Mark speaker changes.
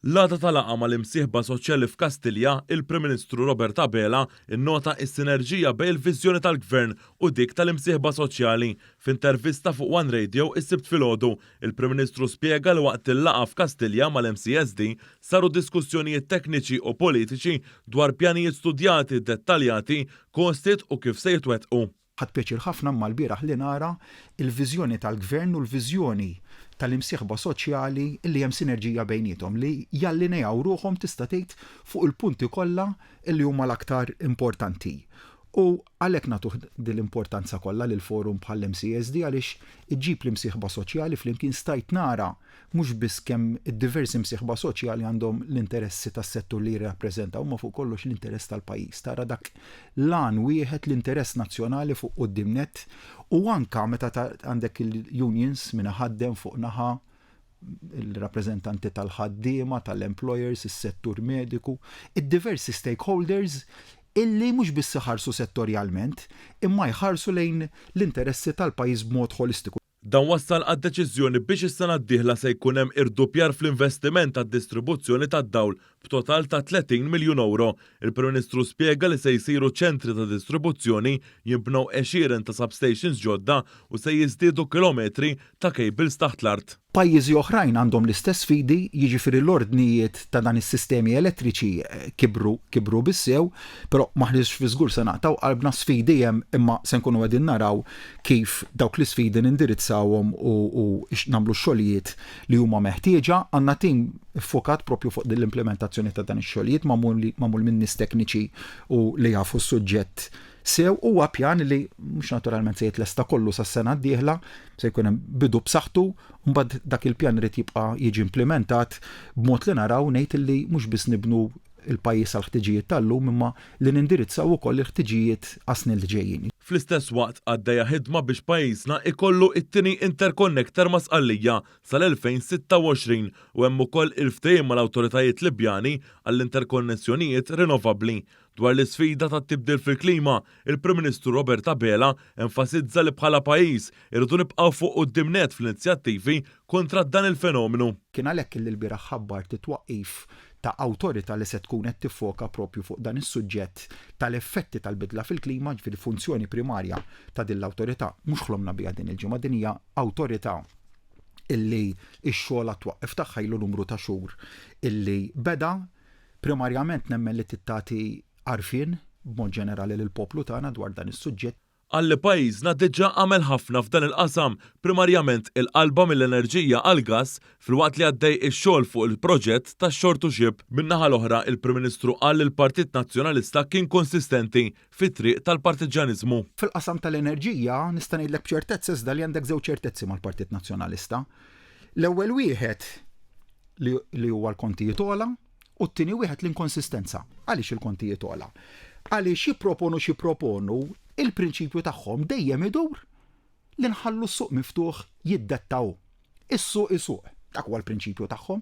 Speaker 1: L-għada ta' laqgħa mal-imsieħba soċjali f'Kastilja, il-Prim Ministru Robert Abela nnota s-sinerġija bejn il-viżjoni tal-Gvern u dik tal-imsieħba soċjali. F'intervista fuq one Radio is-Sibt filgħodu, il-Prim Ministru spjega li waqt il-laqgħa f'Kastilja mal-MCSD saru diskussjonijiet tekniċi u politiċi dwar pjanijiet studjati, dettaljati, costed u kif se jitwettqu. Ħadt pjaċir ħafna
Speaker 2: mmalbieraħ li nara l-viżjoni tal-Gvern u l-viżjoni tal-imsieħba soċjali li hemm sinerġija bejniethom li jallineaw ruħhom tista' tgħid fuq il-punti kollha li huma l-aktar importanti u għalhekk nagħtuh din l-importanza kollha lil forum bħall-MCSD għaliex iġġib l-imsieħba soċjali flimkien stajt nara mhux biss kemm id-diversi msieħba soċjali għandhom l-interessi tas-settur li jirrappreżentaw imma fuq kollox l-interess tal-pajjiż. Tara dak l-għan wieħed, l-interess nazzjonali fuq quddiem nett u anke meta għandek il-unions minn iħaddem fuq naħa, il-rappreżentanti tal-ħaddiema, tal-employers, is-settur mediku, id-diversi stakeholders illi mhux biss iħarsu settorjalment imma jħarsu lejn l-interessi tal-pajjiż b'mod ħolistiku. Dan wassal
Speaker 1: għad-deċiżjoni biex is-sena d-dieħla se jkun hemm irduppjar fl-investiment għad-distribuzzjoni tad-dawl b'total ta' 30 miljun ewro. Il-Prim Ministru spjega li se jsiru ċentri ta' distribuzzjoni, jinbnew għexieren ta' substations ġodda u se jiżdiedu kilometri ta' cables taħt l-art. Pajjiżi oħrajn
Speaker 2: għandhom l-istess sfidi, jiġifieri l-ordnijiet ta' dan is-sistemi elettriċi kibru, kibru bis-sew, però m'aħniex fi żgur se naqtgħu qalbna, sfidi hemm imma se nkunu qegħdin naraw kif dawk l-isfidi nindirizzawhom u nagħmlu x-xogħlijiet li huma meħtieġa. Għandna tim iffokat proprju fuq din l-implimentazzjoni ta' dan ix-xogħlijiet magħmul minn nies tekniċi u li jafu s-suġġett sew. Huwa pjan li mhux naturalment se jitlesta kollu sas-sena d-dieħla, se jkun hemm bidu b'saħħtu, mbagħad dak il-pjan irid jibqa' jiġi implimentat b'mod li naraw ngħid li mhux biss nibnu il-pajjiż għall-ħtiġijiet tal-lum imma li nindirizzaw ukoll il-ħtiġijiet għas-snin li ġejjin. Fl-istess waqt
Speaker 1: għaddejja ħidma biex pajjiżna jkollu it-tieni interconnector ma' Sqallija sal-2026 u hemm ukoll il-ftehim mal-awtoritajiet Libjani għall-interkonnessjonijiet rinnovabbli. Dwar l-isfida tat-tibdil fil-klima, Il-Prim Ministru Robert Abela enfasizza li bħala pajjiż irridu nibqgħu fuq quddiem nett fl-inizjattivi kontra dan il-fenomenu. Kien għalhekk li lbieraħ
Speaker 2: ħabbart it-twaqqif ta' awtorità li se tkun qed tiffoka proprju fuq dan is-suġġett tal-effetti tal-bidla fil-klima, jiġifieri funzjoni primarja ta' din l-awtorità mhux ħlomna biha din il-ġimgħa, din hija awtorità illi x-xogħol għat-twaqqif tagħha ilu numru ta' xhur illi beda, primarjament nemmen li trid tagħti għarfien b'mod ġenerali lill-poplu tagħna dwar dan is-suġġett. Qal li pajjiżna
Speaker 1: diġà għamel ħafna f'dan il-qasam, primarjament il-qalba mill-enerġija għall-gass, filwaqt li għaddej ix-xogħol fuq il-proġett tax-shore to ship. Min-naħa l-oħra, il-Prim Ministru qal li l-Partit Nazzjonalista kien konsistenti fit-triq tal-partiġġjaniżmu. Fil-qasam
Speaker 2: tal-enerġija, nista' ngħidlek b'ċertezza iżda li għandek żewġ ċertezzi mal-Partit Nazzjonalista. L-ewwel wieħed li huwa l-kontijiet ogħla, U t-tieni wieħed l-inkonsistenza. Għaliex il-kontijiet ola? Għaliex jipproponu xi proponu, il-prinċipju tagħhom dejjem idur li nħallu s-suq miftuħ jiddettaw. Is-suq isuq. Dak huwa l-prinċipju tagħhom.